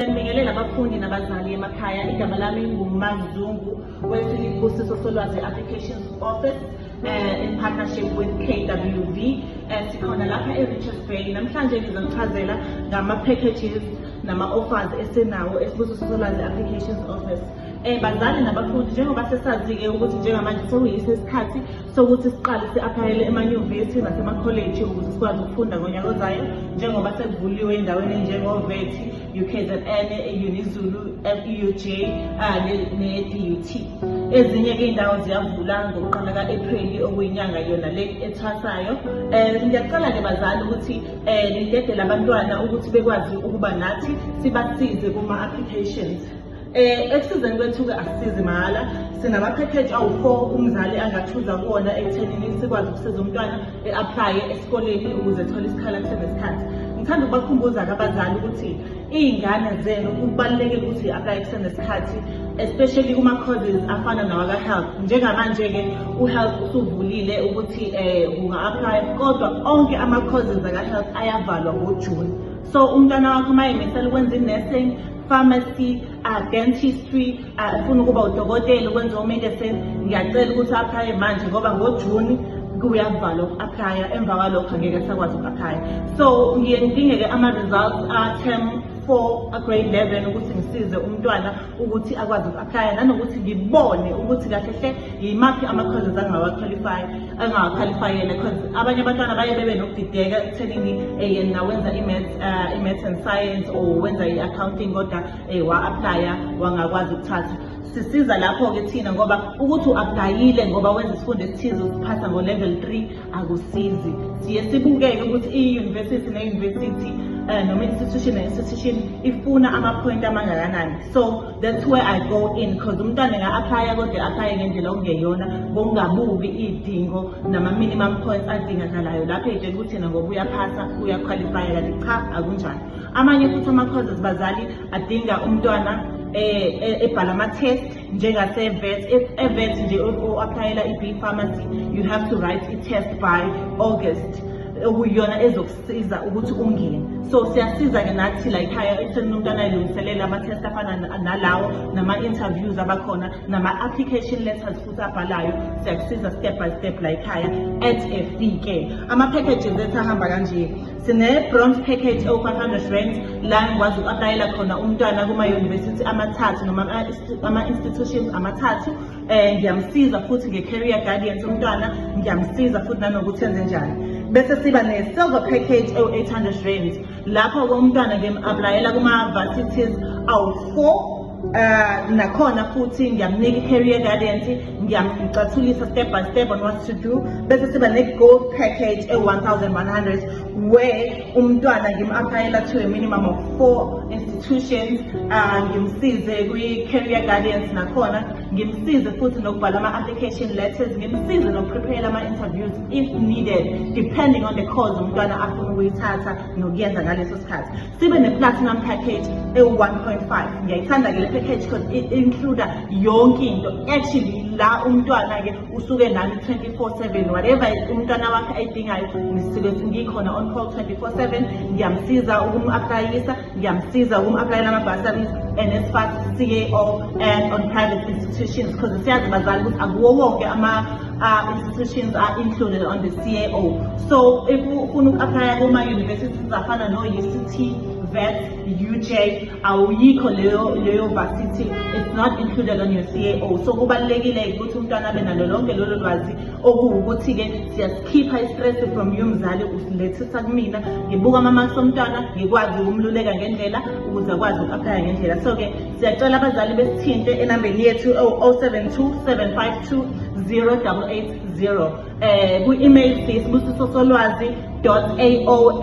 Siyabingelela abafundi nabazali emakhaya. Igama lami nguMazungu weSilibusiso Solwazi Applications Office uh, in partnership with KWV. Uh, eh, sikhona lapha eRichards Bay. Namhlanje ngizonichazela ngama-packages nama-offers esinawo eSibusiso Solwazi Applications Office. Um bazali nabafundi njengoba sesazi-ke ukuthi njengamanje sewuyise isikhathi sokuthi siqale si-aphayele emanyuvesi nasemakholeji ukuze sikwazi ukufunda ngonyaka ozayo njengoba sekuvuliwe endaweni enjengovet ukzn unizulu euj ne-dut ezinye-ke iy'ndawo ziyavula ngokuqala ka-ephreli okuyinyanga yona le ethwasayo um eh, ngiyacela-ke bazali ukuthi um nidedele abantwana ukuthi bekwazi ukuba nathi sibasize kuma-applications Eh ekusizeni kwethu-ke asisizi mahhala sinamaphekheji awu-four umzali angathuza kuwona ekuthenini sikwazi ukusiza umntwana e-aplaye esikoleni ukuze ethole isikhala kusenesikhathi ngithanda ukubakhumbuza-ke abazali ukuthi iy'ngane zenu kubalulekile ukuthi aplaye kusenesikhathi especially kuma-causes afana nawaka-health njengamanje-ke u-health usuvulile ukuthi um unga-aplaya kodwa onke ama-causes aka-health ayavalwa ngojuni so umntwana wakho uma emisela ukwenza i-nursing pharmacy a dentistry afuna ukuba udokotela ukwenza omedicine ngiyacela ukuthi aphaye manje ngoba ngojuni kuyakuvala uku-aplya emva kwalokho angeke sakwazi uku-aplya so ngiye ngidingeke ama-results a-term four a-grade eleven ukuthi ngisize umntwana ukuthi akwazi uku-aplya nanokuthi ngibone ukuthi kahle hle yimaphi ama-causes angawaqualify angakhwalifayele because abanye abantwana baye bebe nokudideka ekuthenini eh, yena wenza eh, i-maths and science or wenza i-accounting kodwa um wa-aplaya wangakwazi ukuthatha sisiza lapho-ke thina ngoba ukuthi u-aplayile ngoba wenza isifundo esithize usiphasa ngo-level three akusizi siye sibukeke ukuthi i-university ne-university um noma i-institution ne-institution ifuna amaphoyinti amangakanani so That's where I go in because umntwana nga-aplaya kodwa aplaye ngendlela okungeyona ngokungabuki iy'dingo nama-minimum points adingakalayo lapho ey'tshela ukuthi yena ngoba uyaphasa uyakhwalifaya kanti cha akunjani amanye futhi ama-causes bazali adinga umntwana eh, eh, ebhala ama-test njengasevet if evet nje o-aplayela i-b pharmacy you have to write i-test by august okuyiyona ezoku siza ukuthi ungene so siyasiza-ke nathi la ekhaya ekutheni umuntu anayilungiselela ama-test afana nalawo nama-interviews abakhona nama-application letters futhi abhalayo siyakusiza step by step la ekhaya at a fee ke ama-packages ethu ahamba kanje sine-bronze package ewu-five hundred rand la ngikwazi uku-aplayela khona umntwana kuma-university amathathu noma ama-institutions amathathu um ngiyamsiza futhi nge-carrier guardians umntwana ngiyamsiza futhi nanokuthi enze njani bese siba ne-silver package ewu-800 rand lapho-ke umntwana ngim-aplayela kuma-varsities awu-four um nakhona futhi ngiyamnika i-carrier guardians ngiyamcathulisa step by step on what to do bese siba ne-gold package ewu-1100 we umntwana ngim-aphayela to a minimum of four institutions uh, ngimsize kwi-career guidance nakhona ngimsize futhi nokubhala ama-application letters ngimsize nokuprepayela ama-interviews if needed depending on the cause umntwana afuna ukuyithatha nokuyenza ngaleso sikhathi sibe ne-platinum package ewu-1.5 ngiyayithanda-ke le package because i-includa yonke into actually la umntwana-ke usuke nami 24/7 whatever umntwana wakhe ayidingayo ngisuke ngikhona on call 24/7 ngiyamsiza ukum-aplayisa ngiyamsiza ukum-aplayela ama-bursaries NSFAS CAO and on private institutions because siyazi bazali ukuthi akuwo wonke ama-institutions uh, are included on the CAO so if ufuna uku-aplaya kuma-universities afana no-UCT vet UJ awuyikho leyo leyo varsity it's not included on your CAO so kubalekile ukuthi umntwana abe nalo lonke lolo lwazi okuwukuthi ke siyasikhipha istress from you mzali usilethisa kumina ngibuka ama marks omntwana ngikwazi ukumluleka ngendlela ukuze akwazi ukuaphaya ngendlela so ke siyacela abazali besithinte enambeni yethu 0727520880 eh ku email sisibusisosolwazi.ao